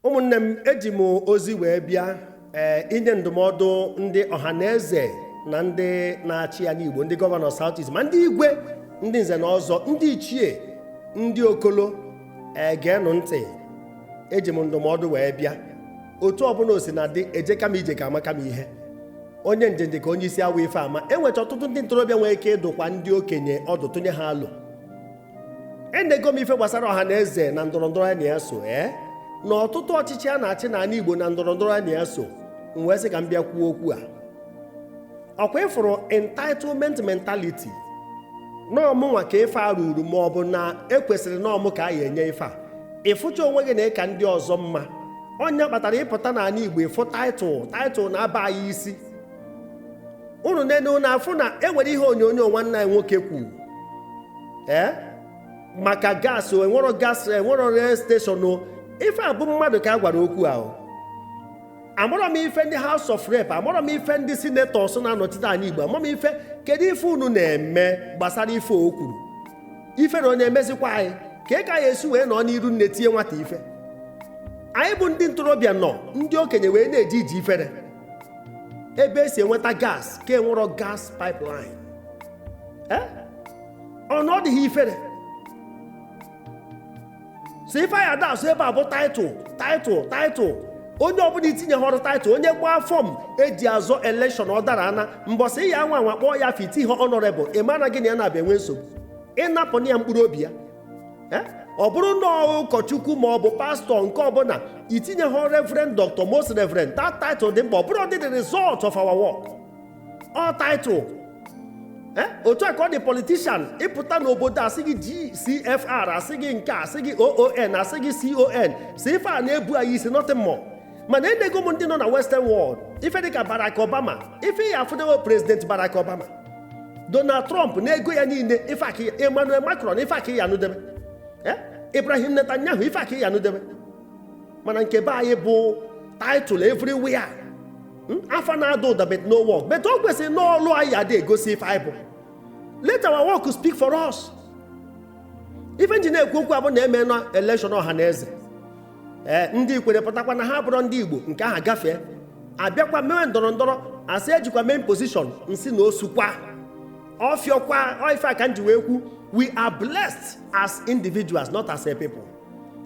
ụmụnne m eji m ozi wee bịa ee eh, inye ndụmọdụ ndị ọha na eze na ndị na-achị ya n'Igbo ndị gọvanọ South East ma ndị igwe ndị nze na ọzọ ndị ichie ndị okolo ee eh, geenụ ntị eji m ndụmọdụ wee bịa otu ọbụla o sina dị ejeka m ije ka amaka m ihe onye njenje ka onye isi awọ ife ama enwecha ọtụtụ ndị ntorobịa nwere ike ịdụkwa ndị okenye ọdụ tụnye ha alo enego m ife gbasara ọha na eze na ndọrọndọrọ ya na ya so ee eh? na ọtụtụ ọchịchị a na-achị n'ala Igbo na ndọrọndọrọ ya na ya so m wee sị ka m bịa kwuo okwu a ọ kwa ị fụrụ entitlement mentality na ọ mụnwa ka ife a ruru ma ọ bụ na ekwesịrị na ọ mụ ka a ya-enye ife a ị fụcha onwe gị na ị ka ndị ọzọ mma ọ nya kpatara ị pụta n'ala Igbo ị fụ taịtụl taịtụl na-aba anyị isi unu nene unu afụ na enwere ihe onyonyo nwanne anyị nwoke kwuru ee eh? maka gas enwero gas enwero rail station ife a bụ mmadụ ka a gwara okwu ahụ amarọ m ife ndị House of Rep amarọ m ife ndị senetọs na-anọchite anya Igbo amarọ m ife kedu ife unu na-eme gbasara ife o kwuru ife na onye emezikwa anyị ka ị ka ya esi wee nọ n'iru nne tie nwata ife anyị bụ ndị ntorobịa nọ ndị okenye wee na-eji iji ifere ebe esi enweta gas ka enwero gas pipeline Eh? ọ na ọ dịghị ifere sọ ife anyị ada asụ ebe a bụ taịtụl taịtụl taịtụl onye ọbụla i tinyehọrọ taịtụl onye gbaa fọm eji azọ elekshọn ọ dara ana mbọsị ị ya-anwa anwa kpọọ ya afa i tinyehọ ọnọrebụl ị mara na gị na ya na-abịa enwe nsogbu ị napụna ya mkpụrụ obi ya eh? ọ bụrụ na ụkọchukwu ma ọ bụ pastọ nke ọbụla i tinyehọ reverend dr most reverend that title dị mkpa ọ bụrọdị the result of our work all title eh? otu a ka ọ dị politician ị pụta n'obodo asị gị gcfr asị gị nke asị gị oon asị gị con sọ ife a na-ebu anyị isi nothing more mana enego m ndị nọ na western world ife dịka Barack Obama ife ị ya-afụdewo prezident Barack Obama Donald Trump na ego ya niile ife a ka ị ya Emmanuel Macron ife a ka ị ya-anụdebe eh? Ibrahim Netanyahu ife a ka ị ya-anụdebe mana nke be anyị bụ title everywhere hmm? afa na-ada ụda but no work but o kwesịrị na ọlụ anyị adị egosi ife anyị bụ let our work speak for us ife m ji na-ekwu okwu a bụ na emena election ọha na eze ee ndị Ikwerre pụtakwa na ha abụrọ ndị Igbo nke aha gafee abịakwa mewe ndọrọndọrọ asị ejikwa main position nsi na osukwa ọfịọkwa ife a ka m ji wee kwu we are blessed as individuals not as a people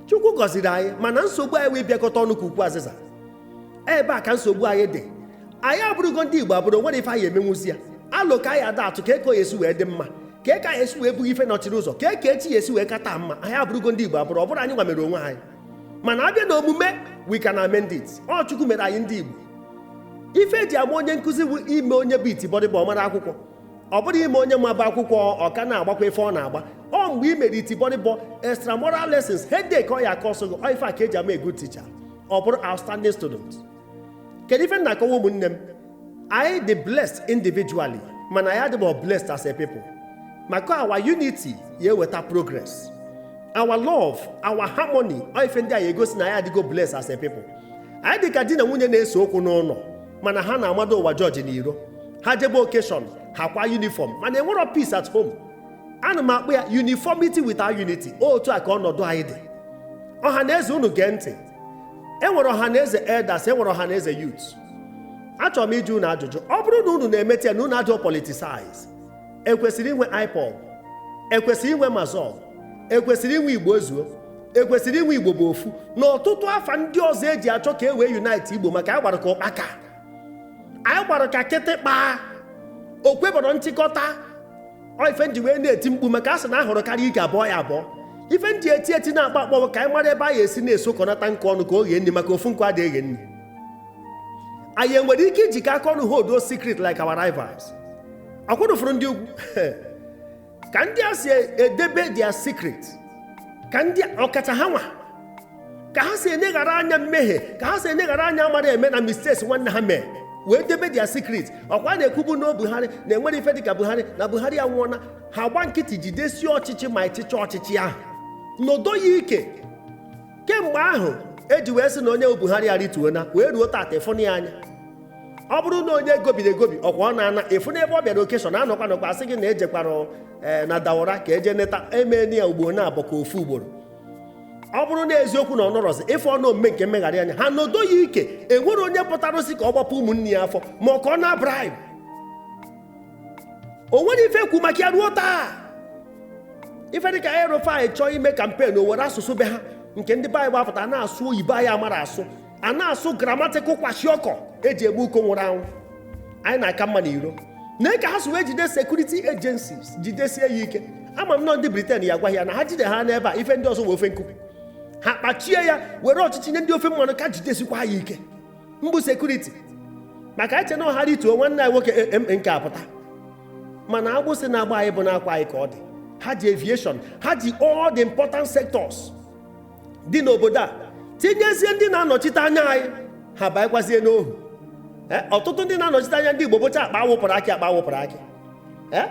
chukwu gọziri anyị mana nsogbu anyị wụ ịbịakọta ọnụ ka ukwu azịza ebe a ka nsogbu anyị dị anyị abụrụgo ndị igbo abụrụ nwerọ ife anyị emenwuzi ya alụ ka anyị ada atụ ka eko ya esi wee dị mma ka eke anyị esi wee bụghị ife nọchiri ụzọ ka eke echi ya esi wee kata mma anyị abụrụgo ndị igbo abụrụ ọ bụrọ anyị nwa mere onwe anyị mana abịa na omume we can amend it ọ chukwu mere anyị ndị igbo ife eji ama onye nkụzi bụ ime onye bụ itibọrịbọ ọ mara akwụkwọ ọ bụrọ ime onye mabu akwụkwọ ọ ka na-agbakwa ife ọ na-agba ọ mgbe i mere itibọrịbọ extramural lessons headache ọ ya akọ ọsọ gị ọ ife a ka eji ama a good teacher ọ bụrọ outstanding student kedu ife m na-akọwa ụmụnne m anyị dị blessed individually mana anyị adịbọ blessed as a people maka our unity ya eweta progress our love our harmony ọ ife ndị a ya egosi na anyị adịgo blessed as a people anyị dị ka di na nwunye na-ese okwu n'ụlọ mana ha na-amado ụwa jọji n'iro ha jebe occasion ha kwa uniform mana enwerọ peace at home ana m akpọ ya uniformity without unity otu a ka ọnọdụ anyị dị ọha na eze unu gee ntị e nwere ọha na eze elders e nwere ọha na eze youth achọrọ m ịjụ unu ajụjụ ọ bụrụ na unu na-emete ya na unu adịrọ politicize ekwesịrị inwe ipob ekwesịrị inwe massob ekwesịrị inwe igbo ezuo ekwesịrị inwe igbo bụ ofu na ọtụtụ afa ndị ọzọ eji achọ ka e wee unite igbo maka anyị gbara ka ụkpaka anyị gbara ka kịtịkpa o kwebọrọ nchịkọta ọ ife nji wee na-eti mkpu maka a sị na ahụrụ karịa ike abụọ ya abụọ ife nji eti eti na-akpọ akpọ bụ ka anyị mara ebe anyị esi na-esokọnata nkụ ọnụ ka o ghee nri maka ofu nkụ adịghị eghe nri anyị enwere ike ijikọ aka ọnụ hold those secret like our rivals ọkwa unu fụrụ ndị ugwu ka ndị a si edebe their secret ka ndị ọkacha ha nwa ka ha si eneghara anya mmehie ka ha si eneghara anya amara eme na mistakes nwanne ha mee wee debe their secret ọkwa na-ekwubu na Buhari na enwerọ ife dịka Buhari na Buhari anwụọna ha gba nkịtị jidesie ọchịchị ma ịchịchị ọchịchị ahụ nodo ya ike kemgbe ahụ eji wee sị na onye Buhari arịtuona wee ruo tata ị fụna ya anya ọ bụrụ na onye gobiri egobi ọkwa ọ na-ana ịfụ n'ebe ọ bịara occasion anọkwa nọkwa asị gị na ejekwara eh, na Daura ka eje neta emeena ya ugboro naabọ ka ofu ugboro ọ bụrụ na eziokwu na ọ nọrọzi ife ọnụ omume nke mmegharị anya ha nodo ya ike enwere onye pụtara ọ sị ka ọ gbapụ ụmụnne ya afọ ma ọ ka ọ naa bribe o nwere ife ekwu maka ya ruo taa ife dịka el-rufai chọọ ime campaign o were asụsụ be ha nke ndị be anyị bụ apụta na-asụ oyibo anyị amara asụ a na-asụ grammatical kwashiorkor eji egbu uko nwụrụ anwụ anyị na-aka mma n'iro na ka ha si wee jide security agencies jidesie ya ike ama m na ndị britain ya gwa ha na ha jide ha n'ebe a ife ndị ọzọ wee ofe nkụ ha kpachie ya were ọchịchị nye ndị ofe mmanụ ka jidesikwa ya ike mbụ security maka eche na ọ ha rituo nwanne anyị nwoke eh, eh, nke apụta mana agbụsị na-agba anyị bụ n'akwa anyị ka ọ dị ha ji aviation ha ji all the important sectors dị n'obodo a tinyezie ndị na-anọchite anya anyị ha banyekwazie n'ohu eh, ọtụtụ ndị na-anọchite anya ndị Igbo bụcha akpa awụpụrụ akị akpa awụpụrụ akị eh,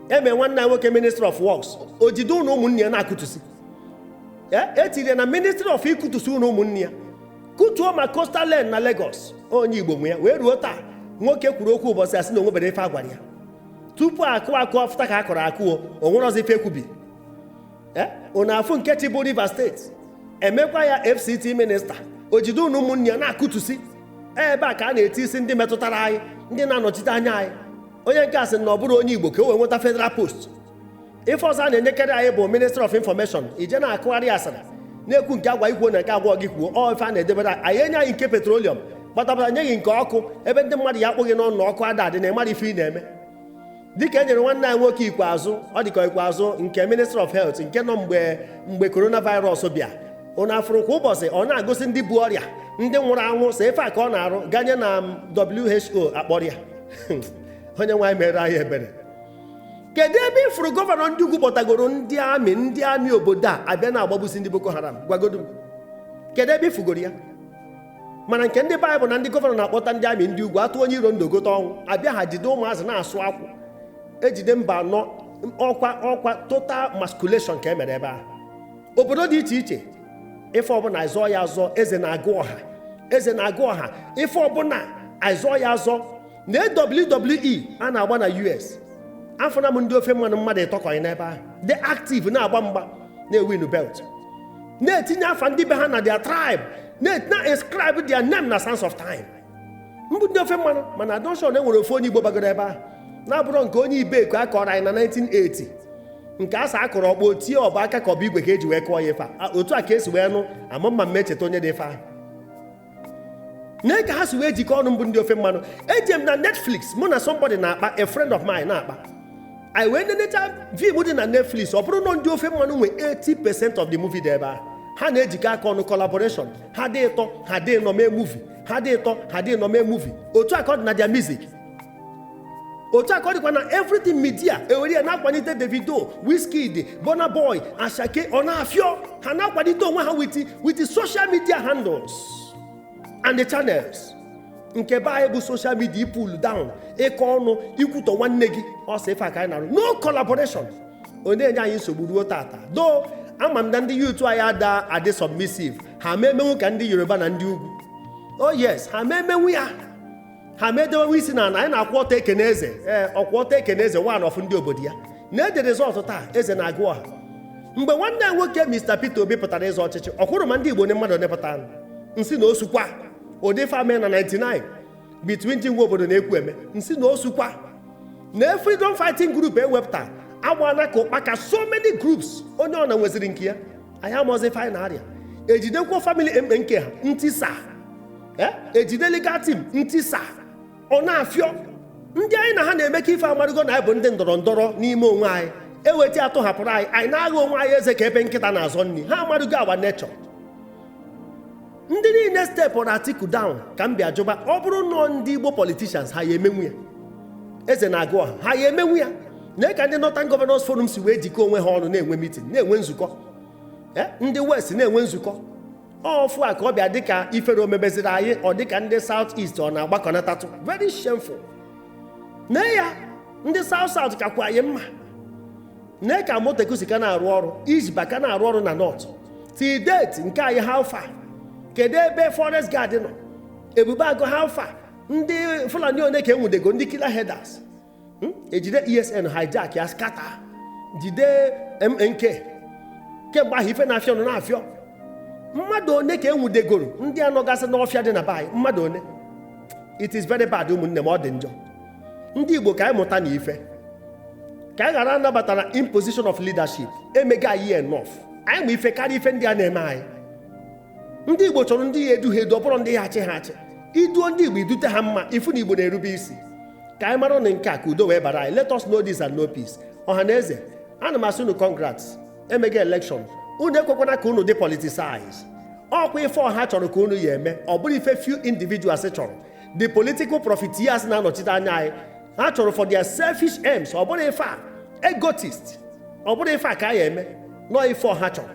eme nwanne anyị nwoke ministry of works o jide ụnọ ụmụnne ya na-akụtusi e tiri ya na ministry of ịkụtusi ụnọ ụmụnne ya kụtuo ma coastal line na Lagos onye Igbo nwe ya wee ruo taa nwoke kwuru okwu ụbọchị asị na onweberọ ife agwara ya tupu akụ akụ ọfụta ka a kọrọ akụo onwerọzi ife ekwubi eh? unu afụ nke chịbu Rivers State emekwa ya FCT minista o jide ụnọ ụmụnne ya na-akụtusi e, ebe a ka a na-etisi ndị metụtara anyị ndị na-anọchite anya anyị onye nke a sị na ọ bụrọ onye Igbo ka o wee nweta federal post ife ọzọ a na-enyekarị anyị bụ ministry of information ị je na-akọgharị asara na-ekwu nke agwa ị kwuo na nke agwarọ gị kwuo ọ ife a na-edebere anyị enye anyị nke petroleum gbatabara nye ghị nke ọkụ ebe ndị mmadụ ya-akpụ ghị n'ọnụ ọkụ ada adị na ị marọ ife ị na-eme dịka e nyere nwanne anyị nwoke ikpeazụ ọ dịka ikpeazụ nke ministry of health nke nọ mgbe mgbe coronavirus bịa unu afụrụ kwa ụbọchị ọ na-agosi ndị bu ọrịa ndị nwụrụ anwụ sọ ife a ka ọ na-arụ ganye na WHO akpọrọ ya onye nwe anyị meere anyị ebere kedu ebe ịfụrụ gọvanọ ndị ugwu kpọtagoro ndị amị ndị amị obodo a abịa na-agbagbusi ndị Boko Haram gwagodo m kedu ebe ịfụgoro ya mana nke ndị be anyị bụ na ndị gọvanọ na-akpọta ndị amị ndị ugwu atụ onye iro ndụ gote ọnwụ abịa ha jide ụmụazị na-asụ akwụ ejide Mbanọ ọkwa ọkwa total masculation ka e mere ebe ahụ obodo dị iche iche ife ọbụla azọọ ya azọ eze na-agụ ọha eze na-agụ ọha ife ọbụla azọọ ya azọ na WWE a na-agba na US afụna m ndị ofe mmanụ mmadụ ịtọ kọghị n'ebe ahụ dị active na-agba mgba na-ewin belt na-etinye afa ndị be ha na their tribe na-inscribe their name na Sands of Time mbụ ndị ofe mmanụ mana adịrọ m sure na e nwere ofu onye Igbo bagoro ebe ahụ na-abụrọ nke onye Ibeku a kọrọ anyị na 1980 nke a sị a kụrụ ọkpọ o tie ọ bụ aka ka ọ bụ igwe ka eji wee kụọ ya ife otu a ka esi wee nụ ama m ma m echeta onye dị ife ahụ nee ka ha si wee jikọ ọnụ mbụ ndị ofe mmanụ eje m na netflix mụ na somebody na-akpa a friend of mine na-akpa anyị wee nenecha film dị na netflix ọ bụrụ na ndị ofe mmanụ nwe 80 percent of the movie dị ebe ahụ ha na-ejikọ aka ọnụ collaboration ha dị ịtọ ha dị ịnọ mee movie ha dị ịtọ ha dị ịnọ mee movie otu a ka ọ dị na their music otu a ka ọ dịkwa na everything media ewere ya na-akwalite davido wizkid burna boy asake ọ na-afịọ ha na-akwalite onwe ha with with social media handles and the channels nke be anyị bụ social media pull down ịkọ ọnụ ikwutọ nwanne gị ọ sọ ife a ka anyị na-arụ no collaboration ọ na-enye anyị nsogbu ruo tata though ama m na ndị youth anyị ada adị submissive ha ma emenwu ka ndị yoruba na ndị ugwu oh yes ha ma emenwu ya ha medewe isi na ana anyị na-akwụ ọtọ ekene eze ee ọkwụ ọtọ ekene eze one of ndị obodo ya na-ede result taa eze na-agụ ọha mgbe nwanne ya nwoke Mr Peter Obi pụtara ịzọ ọchịchị ọ kwụrụ ma ndị Igbo onye mmadụ nepụta nsị na osukwa ụdị ife me na 99 between Jim Nwobodo na Ekwueme nsị na osukwa na freedom fighting group ewepụta agbaala ka ụkpaka so many groups onye ọ na nweziri nke ya anyị amụọzi finally ejidekwa family mkpe nke ha ntisa Eh? ejide legal team ntisa ọ na-afịọ ndị anyị na ha na-emekọ ife amarụgo na anyị bụ ndị ndọrọ ndọrọ n'ime onwe anyị eweta atụhapụrụ anyị anyị na-agha onwe anyị eze ka ebe nkịta na-azọ nri ha amarụgo our nature ndị niile stepụrụ Atiku down ka m bịa jụba ọ bụrụ nọ ndị igbo politicians ha ya emenwu ya eze na-agụ ọha ha ya emenwu ya na ka ndị Northern Governors Forum si wee jikọọ onwe ha ọnụ na-enwe meeting na-enwe nzukọ eh? ndị west na-enwe nzukọ ọfụ a ka ọ bịa dịka ifere omebeziri anyị ọ dịka ndị South East ọ na-agbakọnatatụ very shameful na ya ndị South South kakwa anyị mma na ka Amotekun si ka na-arụ ọrụ Hisbah ka na-arụ ọrụ na North till date nke anyị how far kedu ebe forest guard nọ ebube agụ how far ndị Fulani one ka enwudego ndị killer herders hmm? ejide ESN hijack ya scatter jide MNK kemgbe ahụ ife na-afịọ nọ na-afịọ mmadụ one ka enwudegoro ndị a nọgasị n'ọfịa dị na be anyị mmadụ one it is very bad ụmụnne m ọ dị njọ ndị igbo ka anyị mụta na ife ka anyị ghara anabata na imposition of leadership emega anyị enough anyị ma ife karịa ife ndị a na-eme anyị ndị igbo chọrọ ndị ya edu ha edu ọ bụrọ ndị ya achị ha achị i duo ndị igbo i dute ha mma ị fụ na igbo na-erube isi ka anyị maranụ nke a ka udo wee bara anyị let us know this and know peace Ọhanaeze ana m asị unu congrats emega election unu ekwekwana ka unu dị politicize ọkwa ife ọha chọrọ ka unu ya eme ọ bụrọ ife few individuals chọrọ the political profiteers na-anọchite anya anyị ha chọrọ for their selfish aims ọ bụrọ ife a egotist ọ bụrọ ife a ka a ya eme nọọ ife ọha chọrọ